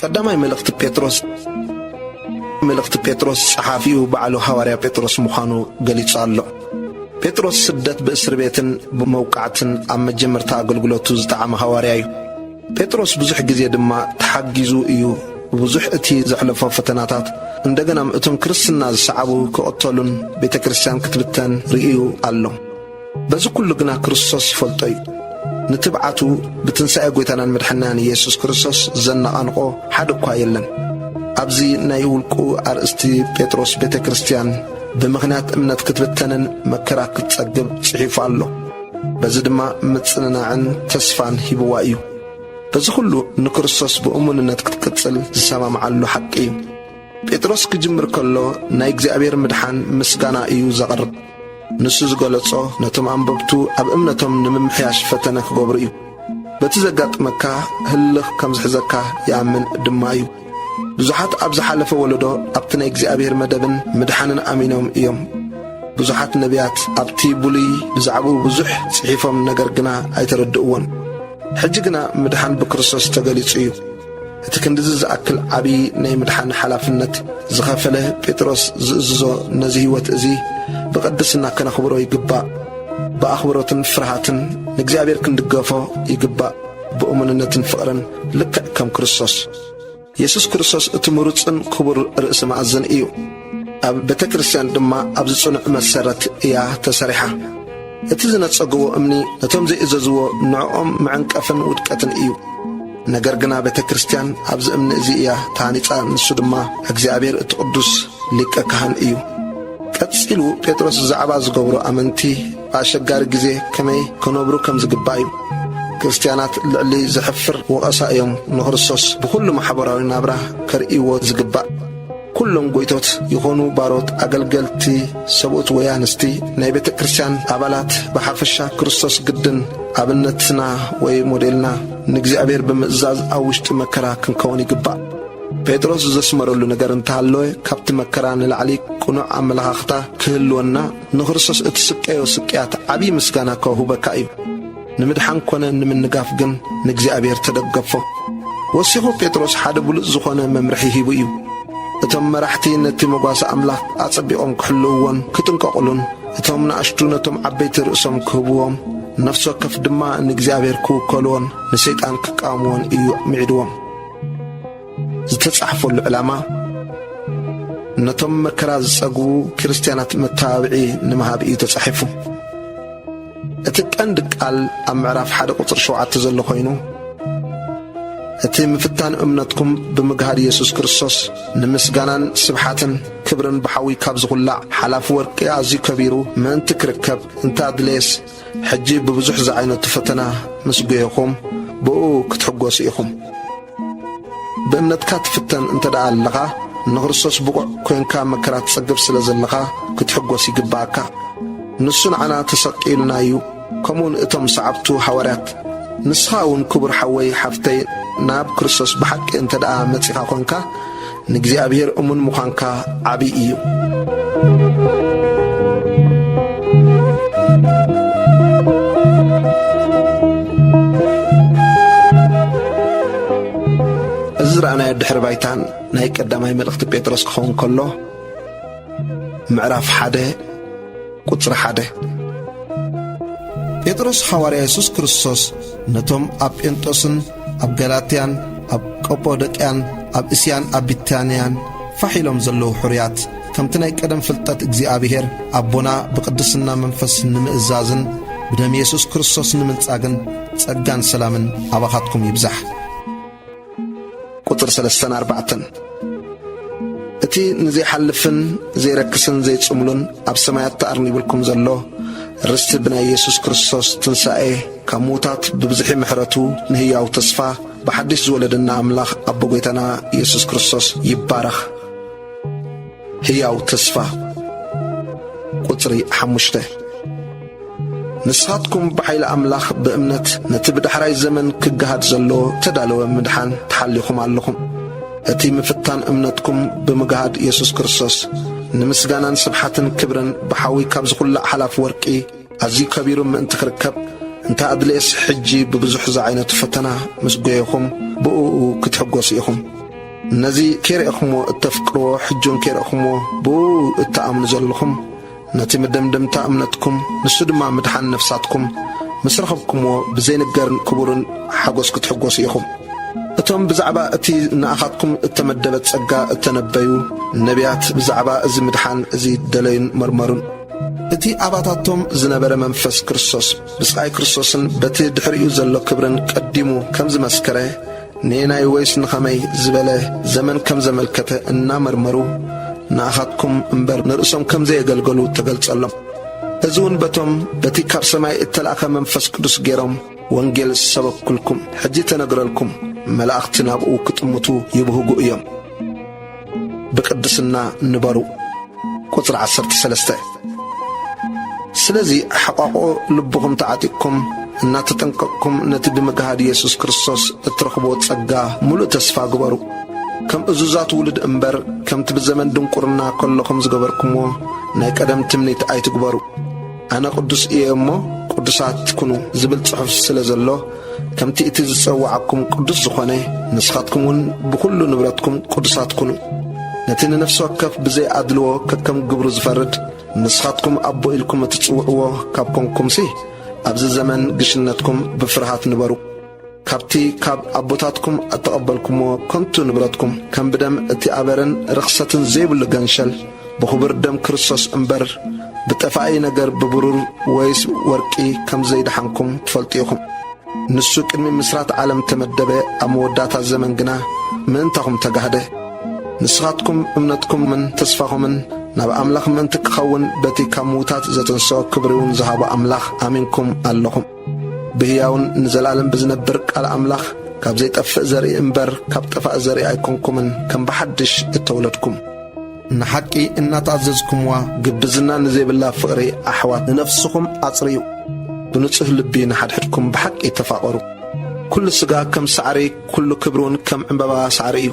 ቀዳማይ መልእኽቲ ጴጥሮስ መልእኽቲ ጴጥሮስ ጸሓፊኡ ባዕሉ ሃዋርያ ጴጥሮስ ምዃኑ ገሊጹ ኣሎ። ጴጥሮስ ስደት ብእስሪ ቤትን ብመውቃዕትን ኣብ መጀመርታ ኣገልግሎቱ ዝጠዓመ ሃዋርያ እዩ። ጴጥሮስ ብዙሕ ግዜ ድማ ተሓጊዙ እዩ ብብዙሕ እቲ ዘሕለፎ ፈተናታት እንደገናም እቶም ክርስትና ዝሰዓቡ ክቕተሉን ቤተ ክርስቲያን ክትብተን ርእዩ ኣሎ። በዚ ኩሉ ግና ክርስቶስ ይፈልጦ እዩ። ንትብዓቱ ብትንሳኤ ጐይታናን መድሕናን ኢየሱስ ክርስቶስ ዘነቓንቖ ሓደ እኳ የለን። ኣብዚ ናይ ውልቁ ኣርእስቲ ጴጥሮስ ቤተ ክርስቲያን ብምኽንያት እምነት ክትብተንን መከራ ክትጸግብ ጽሒፉ ኣሎ። በዚ ድማ ምጽንናዕን ተስፋን ሂብዋ እዩ። በዚ ኩሉ ንክርስቶስ ብእሙንነት ክትቅጽል ዝሰማምዓሉ ሓቂ እዩ። ጴጥሮስ ክጅምር ከሎ ናይ እግዚኣብሔር ምድሓን ምስጋና እዩ ዘቕርብ። ንሱ ዝገለጾ ነቶም ኣንበብቱ ኣብ እምነቶም ንምምሕያሽ ፈተነ ክገብሩ እዩ። በቲ ዘጋጥመካ ህልኽ ከም ዝሕዘካ ይኣምን ድማ እዩ። ብዙሓት ኣብ ዝሓለፈ ወለዶ ኣብቲ ናይ እግዚኣብሔር መደብን ምድሓንን ኣሚኖም እዮም። ብዙሓት ነቢያት ኣብቲ ብሉይ ብዛዕባኡ ብዙሕ ጽሒፎም ነገር ግና ኣይተረድእዎን። ሕጂ ግና ምድሓን ብክርስቶስ ተገሊጹ እዩ። እቲ ክንድዚ ዝኣክል ዓቢ ናይ ምድሓን ሓላፍነት ዝኸፈለ ጴጥሮስ ዝእዝዞ ነዚ ሕይወት እዚ ብቕድስና ከነኽብሮ ይግባእ። ብኣኽብሮትን ፍርሃትን ንእግዚኣብሔር ክንድገፎ ይግባእ፣ ብእሙንነትን ፍቕርን ልክዕ ከም ክርስቶስ። የሱስ ክርስቶስ እቲ ምሩጽን ክቡር ርእሲ መኣዝን እዩ። ኣብ ቤተ ክርስቲያን ድማ ኣብ ዝጽኑዕ መሰረት እያ ተሰሪሓ። እቲ ዝነጸግዎ እምኒ ነቶም ዘይእዘዝዎ ንዕኦም መዐንቀፍን ውድቀትን እዩ። ነገር ግና ቤተ ክርስቲያን ኣብዚ እምኒ እዚ እያ ተሃኒጻ፣ ንሱ ድማ እግዚኣብሔር እቲ ቅዱስ ሊቀ ካህን እዩ። ቀጺሉ ጴጥሮስ ብዛዕባ ዝገብሩ ኣመንቲ ብኣሸጋሪ ግዜ ከመይ ክነብሩ ከም ዝግባእ እዩ። ክርስትያናት ልዕሊ ዘሕፍር ወቐሳ እዮም ንክርስቶስ ብዅሉ ማሕበራዊ ናብራ ከርእይዎ ዝግባእ። ኩሎም ጎይቶት ይኾኑ ባሮት ኣገልገልቲ ሰብኡት ወይ ኣንስቲ ናይ ቤተ ክርስቲያን ኣባላት ብሓፈሻ ክርስቶስ ግድን ኣብነትና ወይ ሞዴልና ንእግዚኣብሔር ብምእዛዝ ኣብ ውሽጢ መከራ ክንከውን ይግባእ። ጴጥሮስ ዘስመረሉ ነገር እንተሃለወ ካብቲ መከራ ንላዕሊ ቅኑዕ ኣመለኻኽታ ክህልወና ንክርስቶስ እትስቀዮ ስቅያት ዓብዪ ምስጋና ከውህበካ እዩ። ንምድሓን ኮነ ንምንጋፍ ግን ንእግዚኣብሔር ተደገፎ። ወሲኹ ጴጥሮስ ሓደ ብሉጽ ዝኾነ መምርሒ ሂቡ እዩ። እቶም መራሕቲ ነቲ መጓሰ ኣምላኽ ኣጸቢቖም ክሕልውዎን ክጥንቀቑሉን፣ እቶም ናእሽቱ ነቶም ዓበይቲ ርእሶም ክህብዎም፣ ነፍሲ ወከፍ ድማ ንእግዚኣብሔር ክውከልዎን ንሰይጣን ክቃወምዎን እዩ ምዒድዎም። ዝተጻሕፈሉ ዕላማ ነቶም መከራ ዝጸግቡ ክርስትያናት መተባብዒ ንምሃብ እዩ ተጻሒፉ። እቲ ቀንዲ ቃል ኣብ ምዕራፍ ሓደ ቁጽሪ ሸውዓተ ዘሎ ኮይኑ እቲ ምፍታን እምነትኩም ብምግሃድ የሱስ ክርስቶስ ንምስጋናን ስብሓትን ክብርን ብሓዊ ካብ ዝኹላዕ ሓላፊ ወርቂ ኣዝዩ ከቢሩ ምእንቲ ክርከብ እንተ ኣድለየስ ሕጂ ብብዙሕ ዝዓይነቱ ፈተና ምስ ጐየኹም ብእኡ ክትሕጐሱ ኢኹም። ብእምነትካ ትፍተን እንተ ደኣ ኣለኻ፣ ንክርስቶስ ብቑዕ ኰንካ መከራ ትጽግብ ስለ ዘለኻ ክትሕጐስ ይግብኣካ። ንሱ ንዓና ተሰቂሉና እዩ፣ ከምኡውን እቶም ሰዓብቱ ሃዋርያት። ንስኻ እውን ክቡር ሓወይ ሓፍተይ ናብ ክርስቶስ ብሓቂ እንተ ደኣ መጺኻ ኰንካ፣ ንእግዚኣብሔር እሙን ምዃንካ ዓቢ እዩ። እዚ ዝረኣናዮ ድሕረ ባይታን ናይ ቀዳማይ መልእኽቲ ጴጥሮስ ክኸውን ከሎ ምዕራፍ ሓደ ቁጽሪ ሓደ ጴጥሮስ ሓዋርያ የሱስ ክርስቶስ ነቶም ኣብ ጴንጦስን ኣብ ገላትያን ኣብ ቀጶዶቅያን ኣብ እስያን ኣብ ቢታንያን ፋሕ ኢሎም ዘለዉ ሕሩያት ከምቲ ናይ ቀደም ፍልጠት እግዚኣብሔር ኣቦና ብቅድስና መንፈስ ንምእዛዝን ብደም የሱስ ክርስቶስ ንምንጻግን ጸጋን ሰላምን ኣባኻትኩም ይብዛሕ ቁጽሪ ሰለስተን ኣርባዕተን እቲ ንዘይሓልፍን ዘይረክስን ዘይጽምሉን ኣብ ሰማያት ተኣርኒብልኩም ዘሎ ርስቲ ብናይ የሱስ ክርስቶስ ትንሣኤ ካብ ምዉታት ብብዝሒ ምሕረቱ ንህያዉ ተስፋ ብሓድሽ ዝወለደና ኣምላኽ ኣቦ ጐይታና የሱስ ክርስቶስ ይባረኽ። ህያው ተስፋ ቁጽሪ ሓሙሽተ ንስኻትኩም ብሓይሊ ኣምላኽ ብእምነት ነቲ ብዳሕራይ ዘመን ክገሃድ ዘሎ ተዳለወ ምድሓን ተሓሊኹም ኣለኹም። እቲ ምፍታን እምነትኩም ብምግሃድ የሱስ ክርስቶስ ንምስጋናን ስብሓትን ክብርን ብሓዊ ካብ ዝኹላዕ ሓላፍ ወርቂ ኣዝዩ ከቢሩ ምእንቲ ክርከብ እንተ ኣድልየስ ሕጂ ብብዙሕ ዝዓይነቱ ፈተና ምስ ጎየኹም ብእኡ ክትሕጎሱ ኢኹም። ነዚ ኬርእኹምዎ እተፍቅርዎ ሕጂውን ኬርእኹምዎ ብእኡ እትኣምኑ ዘለኹም ነቲ መደምደምታ እምነትኩም ንሱ ድማ ምድሓን ነፍሳትኩም ምስ ረኸብኩምዎ ብዘይንገርን ክቡርን ሓጎስ ክትሕጎሱ ኢኹም። እቶም ብዛዕባ እቲ ንኣኻትኩም እተመደበ ጸጋ እተነበዩ ነብያት ብዛዕባ እዚ ምድሓን እዚ ደለዩን መርመሩን። እቲ ኣባታቶም ዝነበረ መንፈስ ክርስቶስ ብስቓይ ክርስቶስን በቲ ድሕሪኡ ዘሎ ክብርን ቀዲሙ ከም ዝመስከረ ንየናይ ወይስ ንኸመይ ዝበለ ዘመን ከም ዘመልከተ እናመርመሩ ንኣኻትኩም እምበር ንርእሶም ከም ዘየገልገሉ ተገልጸሎም። እዚ እውን በቶም በቲ ካብ ሰማይ እተላእከ መንፈስ ቅዱስ ገይሮም ወንጌል ዝሰበኩልኩም ሕጂ ተነግረልኩም መላእኽቲ ናብኡ ክጥምቱ ይብህጉ እዮም። ብቅድስና ንበሩ ቁጽሪ ዓሰርተ ሰለስተ ስለዚ ሓቋቁኦ ልብኹም ተዓጢቅኩም እናተጠንቀቅኩም ነቲ ብምግሃድ ኢየሱስ ክርስቶስ እትረኽብዎ ጸጋ ምሉእ ተስፋ ግበሩ። ከም እዙዛት ውሉድ እምበር ከምቲ ብዘመን ድንቁርና ከለኹም ዝገበርኩምዎ ናይ ቀደም ትምኒት ኣይትግበሩ። ኣነ ቅዱስ እየ እሞ ቅዱሳት ኩኑ ዝብል ጽሑፍ ስለ ዘሎ ከምቲ እቲ ዝጸውዓኩም ቅዱስ ዝኾነ፣ ንስኻትኩምውን ብዅሉ ንብረትኩም ቅዱሳት ኩኑ። ነቲ ንነፍሲ ወከፍ ብዘይ ኣድልዎ ከከም ግብሩ ዝፈርድ፣ ንስኻትኩም ኣቦ ኢልኩም እትጽውዕዎ ካብ ኰንኩምሲ፣ ኣብዚ ዘመን ግሽነትኩም ብፍርሃት ንበሩ። ካብቲ ካብ ኣቦታትኩም እተቐበልኩምዎ ከንቱ ንብረትኩም፣ ከም ብደም እቲ ኣበርን ርኽሰትን ዘይብሉ ገንሸል፣ ብኽቡር ደም ክርስቶስ እምበር ብጠፋኢ ነገር ብብሩር ወይስ ወርቂ ከም ዘይደሓንኩም ትፈልጡ ኢኹም። ንሱ ቅድሚ ምስራት ዓለም ተመደበ፣ ኣብ መወዳእታ ዘመን ግና ምእንታኹም ተጋህደ። ንስኻትኩም እምነትኩምን ተስፋኹምን ናብ ኣምላኽ ምእንቲ ክኸውን በቲ ካብ ምዉታት ዘተንስኦ ክብሪውን ዝሃቦ ኣምላኽ ኣሚንኩም ኣለኹም። ብህያውን ንዘለኣለም ብዝነብር ቃል ኣምላኽ ካብ ዘይጠፍእ ዘርኢ እምበር ካብ ጠፋኢ ዘርኢ ኣይኮንኩምን ከም ብሓድሽ እተወለድኩም ንሓቂ እናተኣዘዝኩምዋ ግብዝና ንዘይብላ ፍቕሪ ኣሕዋት ንነፍስኹም ኣጽርዩ ብንጹህ ልቢ ንሓድሕድኩም ብሓቂ ተፋቐሩ ኩሉ ስጋ ከም ሳዕሪ ኩሉ ክብሪ እውን ከም ዕምበባ ሳዕሪ እዩ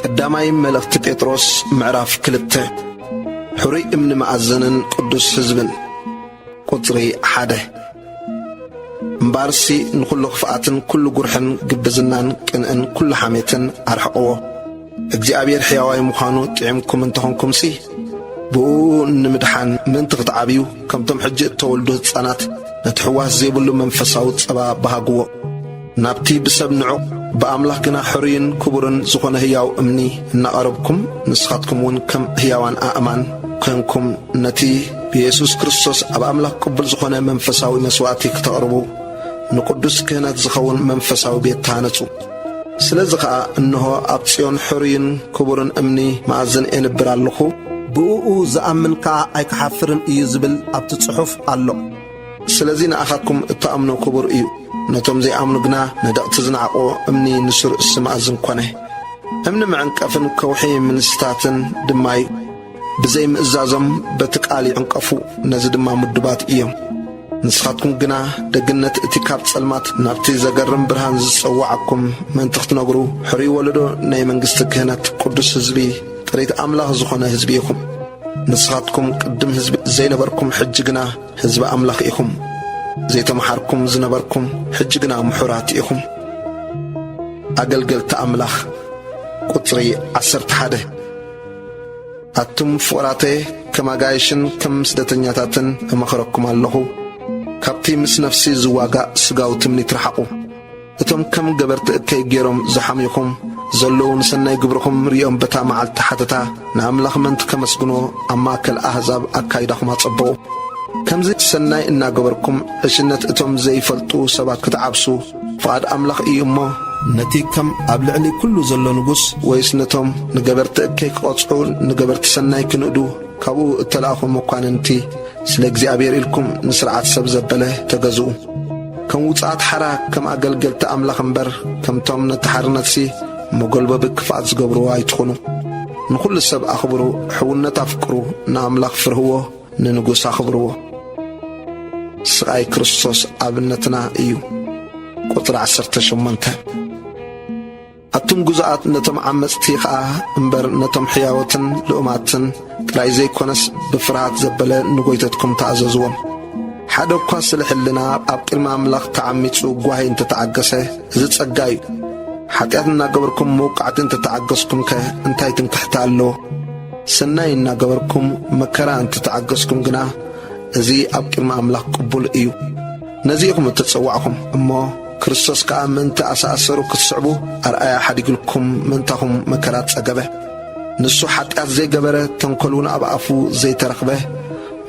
ቀዳማይ መልእኽቲ ጴጥሮስ ምዕራፍ ክልተ ሕሩይ እምኒ መኣዘንን ቅዱስ ሕዝብን ቁጽሪ ሓደ እምበኣርሲ ንዅሉ ኽፍኣትን ኵሉ ጕርሕን ግብዝናን ቅንእን ኵሉ ሓሜትን ኣርሕቕዎ። እግዚኣብሔር ሕያዋይ ምዃኑ ጥዒምኩም እንተ ዀንኩምሲ ብእኡ ንምድሓን ምእንቲ ኽትዓብዩ ከምቶም ሕጂ እተወልዱ ህጻናት ነቲ ሕዋስ ዜብሉ መንፈሳዊ ጸባ በሃግዎ። ናብቲ ብሰብ ንዑቕ ብኣምላኽ ግና ሕሩይን ክቡርን ዝኾነ ህያው እምኒ እናቐረብኩም ንስኻትኩም እውን ከም ህያዋን ኣእማን ኴንኩም ነቲ ብየሱስ ክርስቶስ ኣብ ኣምላኽ ቅቡል ዝኾነ መንፈሳዊ መስዋእቲ ክተቕርቡ ንቅዱስ ክህነት ዝኸውን መንፈሳዊ ቤት ተሃነጹ። ስለዚ ኸኣ እንሆ ኣብ ጽዮን ሕሩይን ክቡርን እምኒ መኣዝን ኤንብር ኣሎኹ፣ ብእኡ ዝኣምን ከኣ ኣይክሓፍርን እዩ ዝብል ኣብቲ ጽሑፍ ኣሎ። ስለዚ ንኣኻትኩም እትኣምኖ ክቡር እዩ፣ ነቶም ዘይኣምኑ ግና ነደቕቲ ዝነዓቑ እምኒ ንሱር እሲ መኣዝን ኮነ። እምኒ መዕንቀፍን ከውሒ ምንስታትን ድማ እዩ። ብዘይ ምእዛዞም በቲ ቃል ይዕንቀፉ፣ ነዚ ድማ ምዱባት እዮም። ንስኻትኩም ግና ደግነት እቲ ካብ ጸልማት ናብቲ ዘገርም ብርሃን ዝጸውዓኩም ምእንቲ ክትነግሩ ሕሩይ ወለዶ ናይ መንግስቲ ክህነት ቅዱስ ህዝቢ ጥሪት ኣምላኽ ዝኾነ ህዝቢ ኢኹም። ንስኻትኩም ቅድም ህዝቢ ዘይነበርኩም ሕጂ ግና ህዝቢ ኣምላኽ ኢኹም፣ ዘይተመሓርኩም ዝነበርኩም ሕጂ ግና ምሑራት ኢኹም። ኣገልገልቲ ኣምላኽ ቁጽሪ ዓሰርተ ሓደ ኣቱም ፍቑራተየ ከም ኣጋይሽን ከም ስደተኛታትን እመኽረኩም ኣለኹ፣ ካብቲ ምስ ነፍሲ ዝዋጋእ ስጋዊ ትምኒት ርሓቑ። እቶም ከም ገበርቲ እከይ ገይሮም ዝሓምዩኹም ዘለዉ ንሰናይ ግብርኹም ርእዮም በታ መዓልቲ ሓተታ ንኣምላኽ ምእንቲ ከመስግኖ ኣብ ማእከል ኣህዛብ ኣካይዳኹም ኣጸብቑ። ከምዚ ሰናይ እናገበርኩም ዕሽነት እቶም ዘይፈልጡ ሰባት ክትዓብሱ ፍቓድ ኣምላኽ እዩ እሞ፣ ነቲ ከም ኣብ ልዕሊ ኩሉ ዘሎ ንጉስ ወይስ ነቶም ንገበርቲ እከይ ክቐጽዑ ንገበርቲ ሰናይ ክንእዱ፣ ካብኡ እተላእኹ መኳንንቲ፣ ስለ እግዚኣብሄር ኢልኩም ንስርዓት ሰብ ዘበለ ተገዝኡ። ከም ውጹዓት ሓራ፣ ከም ኣገልገልቲ ኣምላኽ እምበር፣ ከምቶም ነቲ ሓርነትሲ መጐልበቢ ክፍኣት ዝገብርዎ ኣይትኹኑ። ንዅሉ ሰብ ኣኽብሩ፣ ሕውነት ኣፍቅሩ፣ ንኣምላኽ ፍርህዎ፣ ንንጉስ ኣኽብርዎ። ስቓይ ክርስቶስ ኣብነትና እዩ። ቁጽሪ ዓሰርተ ሸሞንተ። ኣቱም ግዙኣት ነቶም ዓመጽቲ ኸኣ እምበር ነቶም ሕያዎትን ልኡማትን ጥራይ ዘይኰነስ ብፍርሃት ዘበለ ንጐይተትኩም ተኣዘዝዎም። ሓደ እኳ ስለ ሕልና ኣብ ቅድሚ ኣምላኽ ተዓሚጹ ጓሂ እንተ ተዓገሰ እዚ ጸጋ እዩ። ሓጢኣት እናገበርኩም መውቃዕቲ እንተ ተዓገስኩምከ እንታይ ትምክሕታ ኣለዎ? ሰናይ እናገበርኩም መከራ እንተ ተዓገስኩም ግና እዚ ኣብ ቅድሚ ኣምላኽ ቅቡል እዩ። ነዚ ኢኹም እተጸዋዕኩም እሞ ክርስቶስ ከኣ ምእንቲ ኣሰኣሰሩ ክትስዕቡ ኣርኣያ ሓዲግልኩም ምእንታኹም መከራ ጸገበ። ንሱ ሓጢኣት ዘይገበረ ተንኰልውን ኣብ ኣፉ ዘይተረኽበ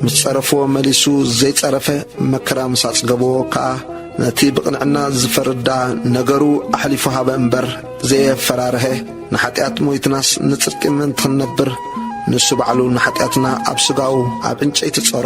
ምስ ጸረፍዎ መሊሱ ዘይጸረፈ መከራ ምስ ኣጽገብዎ ከኣ ነቲ ብቕንዕና ዝፈርዳ ነገሩ ኣሕሊፉ ሃበ እምበር ዘየፈራርሀ። ንሓጢኣት ሞይትናስ ንጽድቂ ምእንቲ ክንነብር ንሱ ባዕሉ ንሓጢኣትና ኣብ ስጋኡ ኣብ ዕንጨይቲ ጸሮ።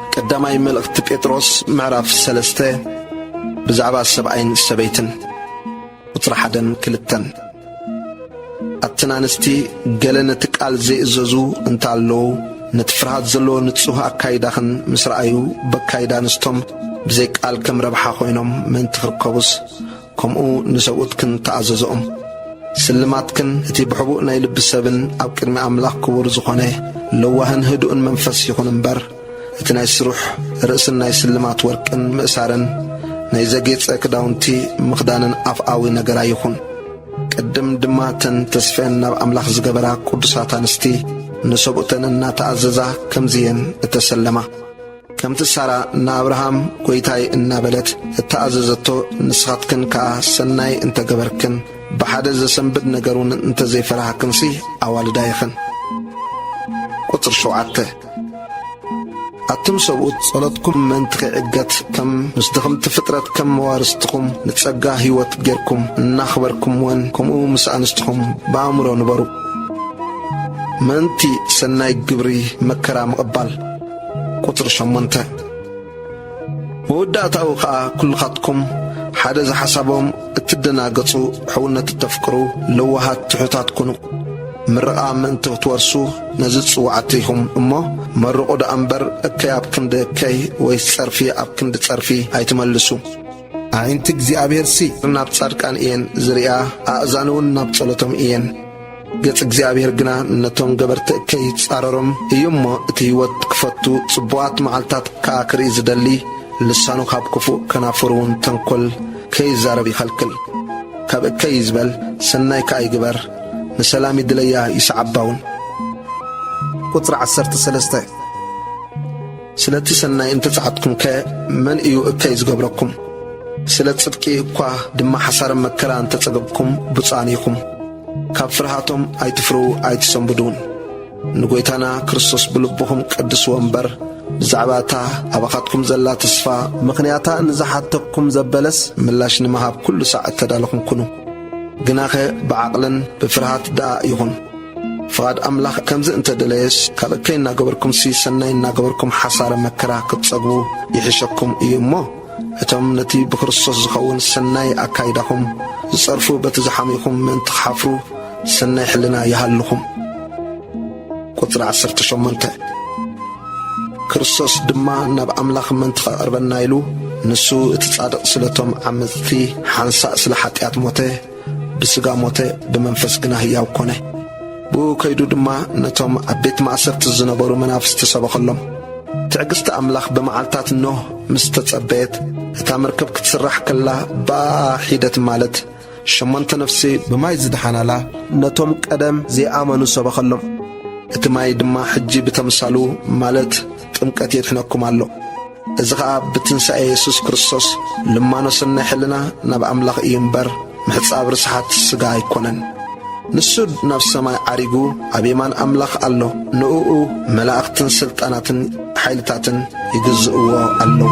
ቀዳማይ መልእኽቲ ጴጥሮስ ምዕራፍ ሰለስተ ብዛዕባ ሰብኣይን ሰበይትን ቁጽሪ ሓደን ክልተን ኣትን ኣንስቲ ገለ ነቲ ቃል ዘይእዘዙ እንተ ኣለዉ ነቲ ፍርሃት ዘለዎ ንጹህ ኣካይዳኽን ምስ ረኣዩ በካይዳ ኣንስቶም ብዘይ ቃል ከም ረብሓ ኮይኖም ምእንቲ ክርከቡስ ከምኡ ንሰብኡትክን ተኣዘዝኦም። ስልማትክን እቲ ብሕቡእ ናይ ልቢ ሰብን ኣብ ቅድሚ ኣምላኽ ክቡር ዝኾነ ለዋህን ህዱእን መንፈስ ይኹን እምበር፣ እቲ ናይ ስሩሕ ርእስን ናይ ስልማት ወርቅን ምእሳርን ናይ ዘጌጸ ክዳውንቲ ምኽዳንን ኣፍኣዊ ነገር ኣይኹን። ቅድም ድማ እተን ተስፈኤን ናብ ኣምላኽ ዝገበራ ቅዱሳት ኣንስቲ ንሰብኡተን እናተኣዘዛ ከምዚ እየን እተሰለማ። ከምቲ ሳራ ንኣብርሃም ጐይታይ እናበለት እተኣዘዘቶ፣ ንስኻትክን ከኣ ሰናይ እንተ ገበርክን፣ ብሓደ ዘሰንብድ ነገርውን እንተ ዘይፈራህክንሲ ኣዋልዳ ኢኽን። ቁጽሪ ሸውዓተ፣ ኣቱም ሰብኡት፣ ጸሎትኩም ምእንቲ ኺዕገት፣ ከም ምስ ድኽምቲ ፍጥረት ከም መዋርስትኹም ንጸጋ ህይወት ጌርኩም እናኽበርኩምወን፣ ከምኡ ምስ ኣንስትኹም ብኣእምሮ ንበሩ። ምእንቲ ሰናይ ግብሪ መከራ ምቕባል። ቁጽሪ ሸሞንተ መወዳእታኡ ኸኣ ኩልኻትኩም ሓደ ዝሓሳቦም እትደናገጹ ሕውነት እተፍቅሩ ለዋሃት ትሑታት ኩኑ ምርቓ ምእንቲ ክትወርሱ ነዚ ጽዋዕቲ ኢኹም እሞ መርቑ ደኣ እምበር እከይ ኣብ ክንዲ እከይ ወይስ ጸርፊ ኣብ ክንዲ ጸርፊ ኣይትመልሱ ኣዒንቲ እግዚኣብሔርሲ ናብ ጻድቃን እየን ዝርእያ፣ ኣእዛኑውን ናብ ጸሎቶም እየን። ገጽ እግዚኣብሔር ግና ነቶም ገበርቲ እከይ ጻረሮም እዩ እሞ እቲ ሕይወት ክፈቱ ጽቡቓት መዓልትታት ከኣ ክርኢ ዝደሊ ልሳኑ ኻብ ክፉእ ከናፍሩውን ተንኰል ከይዛረብ ይኸልክል። ካብ እከይ ይዝበል፣ ሰናይ ከኣ ይግበር፣ ንሰላም ይድለያ ይስዓባውን። ቁጽሪ ዓሰርተ ሰለስተ ስለቲ ሰናይ እንተ ጸዓትኩምከ መን እዩ እከይ ዝገብረኩም? ስለ ጽድቂ እኳ ድማ ሓሳረ መከራ እንተ ጸገብኩም ብጹኣን ኢኹም። ካብ ፍርሃቶም ኣይትፍርሁ ኣይትሰንብዱውን። ንጐይታና ክርስቶስ ብልብኹም ቀድስዎ እምበር፣ ብዛዕባ እታ ኣባኻትኩም ዘላ ተስፋ፣ ምኽንያታ ንዝሓተኩም ዘበለስ ምላሽ ንምሃብ ኵሉ ሳዕ እተዳለኹም ኩኑ፣ ግናኸ ብዓቕልን ብፍርሃት ደኣ ይኹን። ፍቓድ ኣምላኽ ከምዚ እንተ ደለየስ፣ ካልእ ከይናገበርኩምሲ ሰናይ እናገበርኩም ሓሳረ መከራ ክትጸግቡ ይሕሸኩም እዩ እሞ፣ እቶም ነቲ ብክርስቶስ ዝኸውን ሰናይ ኣካይዳኹም ዝጸርፉ በቲ ዝሓምዩኹም ምእንቲ ክሓፍሩ ሰናይ ሕልና ይሃልኹም። ቁጽሪ ዓሰርተ ሸሞንተ ክርስቶስ ድማ ናብ ኣምላኽ ምእንቲ ከቕርበና ኢሉ ንሱ እቲ ጻድቕ ስለቶም ዓመጽቲ ሓንሳእ ስለ ሓጢኣት ሞተ፣ ብሥጋ ሞተ፣ ብመንፈስ ግና ህያው ኮነ። ብኡ ከይዱ ድማ ነቶም ኣብ ቤት ማእሰርቲ ዝነበሩ መናፍስቲ ሰበኸሎም። ትዕግሥቲ ኣምላኽ ብመዓልታት ኖህ ምስ ተጸበየት፣ እታ መርከብ ክትስራሕ ከላ ብኣኣ ሒደት ማለት ሸሞንተ ነፍሲ ብማይ ዝደሓናላ ነቶም ቀደም ዘይኣመኑ ሰበኸሎም። እቲ ማይ ድማ ሕጂ ብተምሳሉ ማለት ጥምቀት የድሕነኩም ኣሎ። እዚ ኸኣ ብትንሣኤ የሱስ ክርስቶስ ልማኖ ሠናይ ሕልና ናብ ኣምላኽ እዩ እምበር ምሕጻብ ርስሓት ሥጋ ኣይኮነን። ንሱ ናብ ሰማይ ዓሪጉ ኣብ የማን ኣምላኽ ኣሎ፣ ንእኡ መላእኽትን ሥልጣናትን ኃይልታትን ይግዝእዎ ኣለዉ።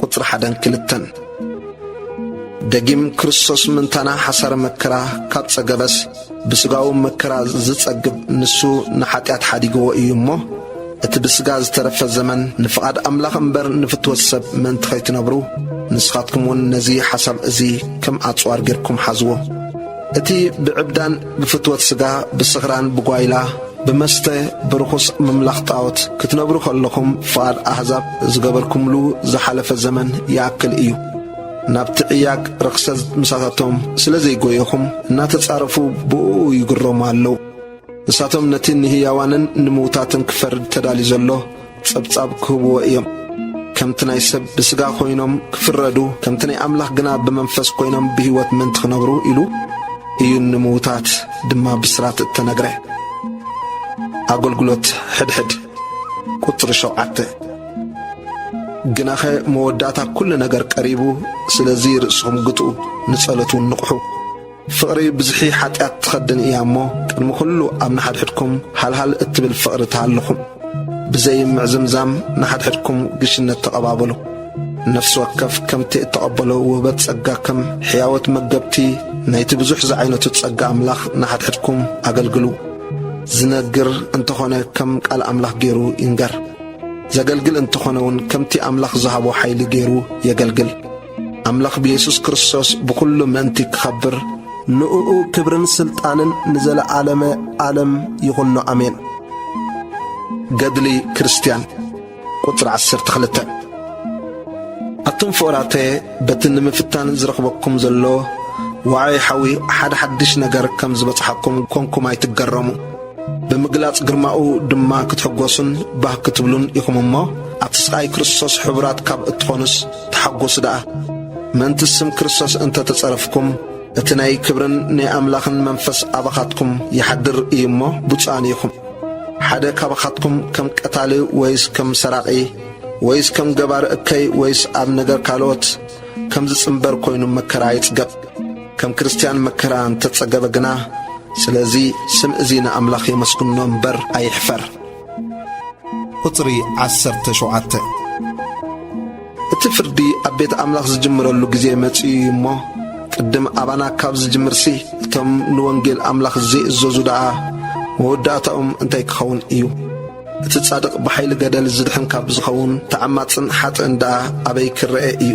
ቁጽሪ ሓደን ክልተን ደጊም ክርስቶስ ምንታና ሓሳረ መከራ ካብ ጸገበስ ብሥጋዊ መከራ ዝጸግብ ንሱ ንኃጢኣት ሓዲግዎ እዩ እሞ እቲ ብሥጋ ዝተረፈ ዘመን ንፍቓድ ኣምላኽ እምበር ንፍትወት ሰብ ምእንቲ ኸይትነብሩ ንስኻትኩምውን ነዚ ሓሳብ እዚ ከም ኣጽዋር ጌርኩም ሓዝዎ። እቲ ብዕብዳን ብፍትወት ስጋ ብስኽራን ብጓይላ ብመስተ ብርኹስ ምምላኽ ጣዖት ክትነብሩ ከለኹም ፍቓድ ኣህዛብ ዝገበርኩምሉ ዝሓለፈ ዘመን ይኣክል እዩ። ናብቲ ዕያግ ርኽሰት ምሳታቶም ስለ ዘይጎየኹም እናተጻረፉ ብእኡ ይግረሙ ኣለዉ። ንሳቶም ነቲ ንህያዋንን ንምዉታትን ክፈርድ ተዳልዩ ዘሎ ጸብጻብ ክህብዎ እዮም። ከምቲ ናይ ሰብ ብስጋ ኮይኖም ክፍረዱ፣ ከምቲ ናይ ኣምላኽ ግና ብመንፈስ ኮይኖም ብህይወት ምእንቲ ክነብሩ ኢሉ እዩ ንምዉታት ድማ ብስራት እተነግረ። ኣገልግሎት ሕድሕድ ቁጽሪ ሸውዓተ ግናኸ መወዳእታ ኵሉ ነገር ቀሪቡ፣ ስለዚ ርእስኹም ግትኡ፣ ንጸሎት እውን ንቕሑ። ፍቕሪ ብዝሒ ሓጢኣት ትኸድን እያ እሞ፣ ቅድሚ ዅሉ ኣብ ንሓድሕድኩም ሃልሃል እትብል ፍቕሪ ተሃልኹም። ብዘይ ምዕዝምዛም ንሓድሕድኩም ግሽነት ተቐባበሉ። ነፍሲ ወከፍ ከምቲ እተቐበሎ ውህበት ጸጋ ከም ሕያዎት መገብቲ ናይቲ ብዙሕ ዝዓይነቱ ጸጋ ኣምላኽ ንሓድሕድኩም ኣገልግሉ። ዝነግር እንተ ዀነ ከም ቃል ኣምላኽ ገይሩ ይንገር። ዘገልግል እንተ ዀነውን ከምቲ ኣምላኽ ዝሃቦ ሓይሊ ገይሩ የገልግል። ኣምላኽ ብየሱስ ክርስቶስ ብዅሉ ምእንቲ ክኸብር፣ ንእኡ ክብርን ስልጣንን ንዘለዓለመ ዓለም ይኹኖ ኣሜን። ገድሊ ክርስትያን ቁጽሪ ዓሰርተ ክልተ ኣቱም ፍቕራተ በቲ ንምፍታን ዝረኽበኩም ዘሎ ዋዕይ ሓዊ ሓደ ሓድሽ ነገር ከም ዝበጽሓኩም ኰንኩም ኣይትገረሙ ብምግላጽ ግርማኡ ድማ ክትሕጐሱን ባህ ክትብሉን ኢኹም እሞ ኣብቲ ስቓይ ክርስቶስ ሕቡራት ካብ እትዀኑስ ተሓጐሱ ደኣ፣ ምእንቲ ስም ክርስቶስ እንተ ተጸረፍኩም፣ እቲ ናይ ክብርን ናይ ኣምላኽን መንፈስ ኣባኻትኩም ይሓድር እዩ እሞ፣ ብፁዓን ኢኹም። ሓደ ካባኻትኩም ከም ቀታሊ ወይስ ከም ሰራቒ ወይስ ከም ገባር እከይ ወይስ ኣብ ነገር ካልኦት ከም ዝጽምበር ኮይኑ መከራ ኣይጽገብ። ከም ክርስትያን መከራ እንተ ጸገበ ግና፣ ስለዚ ስም እዚ ንኣምላኽ የመስግኖ እምበር ኣይሕፈር። ቁጽሪ ዓሰርተ ሸውዓተ እቲ ፍርዲ ኣብ ቤት ኣምላኽ ዝጅምረሉ ግዜ መጺኡ እዩ እሞ ቅድም ኣባና ካብ ዝጅምርሲ እቶም ንወንጌል ኣምላኽ ዘይእዘዙ ደኣ መወዳእታኦም እንታይ ክኸውን እዩ? እቲ ጻድቕ ብሓይሊ ገደል ዝድሕን ካብ ዝኸውን ተዓማጽን ሓጥእን ደኣ ኣበይ ክረኤ እዩ?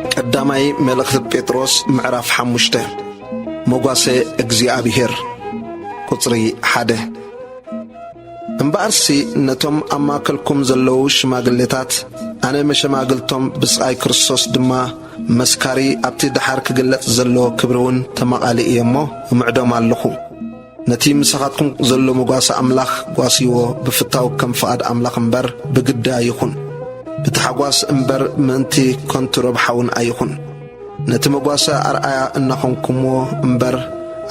ቀዳማይ መልእኽቲ ጴጥሮስ ምዕራፍ ሓሙሽተ መጓሰ እግዚኣብሔር ቁጽሪ ሓደ እምበኣርሲ ነቶም ኣብ ማእከልኩም ዘለዉ ሽማግሌታት ኣነ መሸማግልቶም ብስቓይ ክርስቶስ ድማ መስካሪ ኣብቲ ደሓር ክግለጽ ዘሎ ክብሪ እውን ተማቓሊ እየ እሞ እምዕዶም ኣለኹ ነቲ ምሳኻትኩም ዘሎ መጓሰ ኣምላኽ ጓስይዎ ብፍታው ከም ፍቓድ ኣምላኽ እምበር ብግዲ ኣይኹን። ብታሕጓስ እምበር ምእንቲ ከንቱ ረብሓውን ኣይኹን። ነቲ መጓሰ ኣርኣያ እናኾንኩምዎ እምበር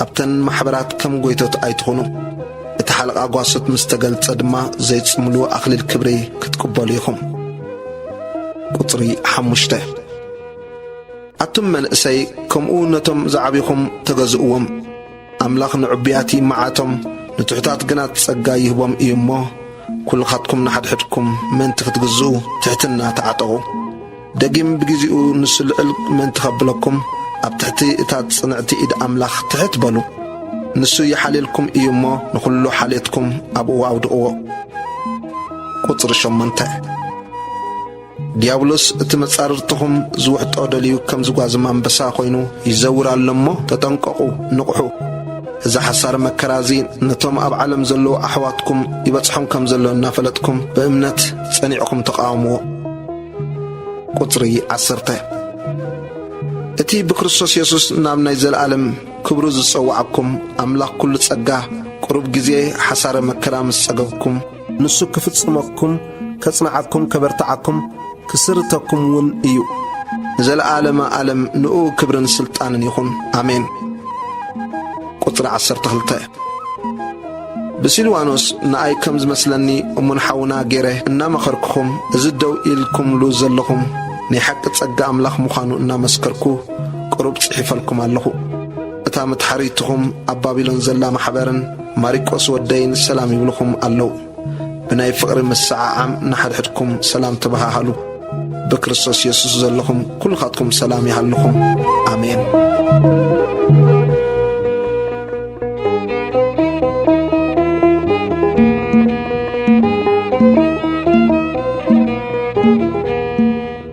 ኣብተን ማሕበራት ከም ጎይቶት ኣይትኹኑ። እቲ ሓለቓ ጓሶት ምስ ተገልጸ ድማ ዘይጽምሉ ኣኽሊል ክብሪ ክትቅበሉ ኢኹም። ቁጽሪ ሓሙሽተ ኣቱም መንእሰይ ከምኡ ነቶም ዝዓቢኹም ተገዝእዎም። ኣምላኽ ንዕቡያት ይመዓቶም፣ ንትሑታት ግና ጸጋ ይህቦም እዩ እሞ፣ ኵልኻትኩም ንሓድሕድኩም ምእንቲ ኽትግዝኡ፣ ትሕትና ተዓጠቑ። ደጊም ብጊዜኡ ንሱ ልዕል ምእንቲ ኼብለኩም፣ ኣብ ትሕቲ እታ ጽንዕቲ ኢድ ኣምላኽ ትሕት በሉ። ንሱ ይሓልየልኩም እዩ እሞ፣ ንዅሉ ሓልዮትኩም ኣብኡ ኣውድቕዎ። ቁጽሪ ሸሞንተ። ዲያብሎስ እቲ መጻርርትኹም ዝውሕጦ ደልዩ ከም ዝጓዝም ኣንበሳ ኮይኑ ይዘውር ኣሎ እሞ ተጠንቀቑ ንቕሑ። እዚ ሓሳር መከራ እዚ ነቶም ኣብ ዓለም ዘለዉ ኣሕዋትኩም ይበጽሖም ከም ዘሎ እናፈለጥኩም ብእምነት ጸኒዕኹም ተቓወምዎ። ቁጽሪ ዓሰርተ እቲ ብክርስቶስ የሱስ ናብ ናይ ዘለኣለም ክብሩ ዝጸውዓኩም ኣምላኽ ኩሉ ጸጋ ቅሩብ ግዜ ሓሳረ መከራ ምስ ጸገብኩም ንሱ ክፍጽመኩም፣ ከጽንዓኩም፣ ከበርትዓኩም፣ ክስርተኩም ውን እዩ። ንዘለዓለመ ኣለም ንኡ ክብርን ስልጣንን ይኹን ኣሜን። ቁጽሪ ዓሰርተ ክልተ ብሲልዋኖስ ንኣይ ከም ዝመስለኒ እሙን ሓውና ገይረ እናመኸርኩኹም እዚ ደው ኢልኩምሉ ዘለኹም ናይ ሓቂ ጸጋ ኣምላኽ ምዃኑ እናመስከርኩ ቅሩብ ጽሒፈልኩም ኣለኹ። እታ መትሓሪትኹም ኣብ ባቢሎን ዘላ ማሕበርን ማሪቆስ ወደይን ሰላም ይብልኹም ኣለው። ብናይ ፍቕሪ ምስዓዓም ንሓድሕድኩም ሰላም ተበሃሃሉ። ብክርስቶስ የሱስ ዘለኹም ኩልኻትኩም ሰላም ይሃልኹም። ኣሜን። Thank you.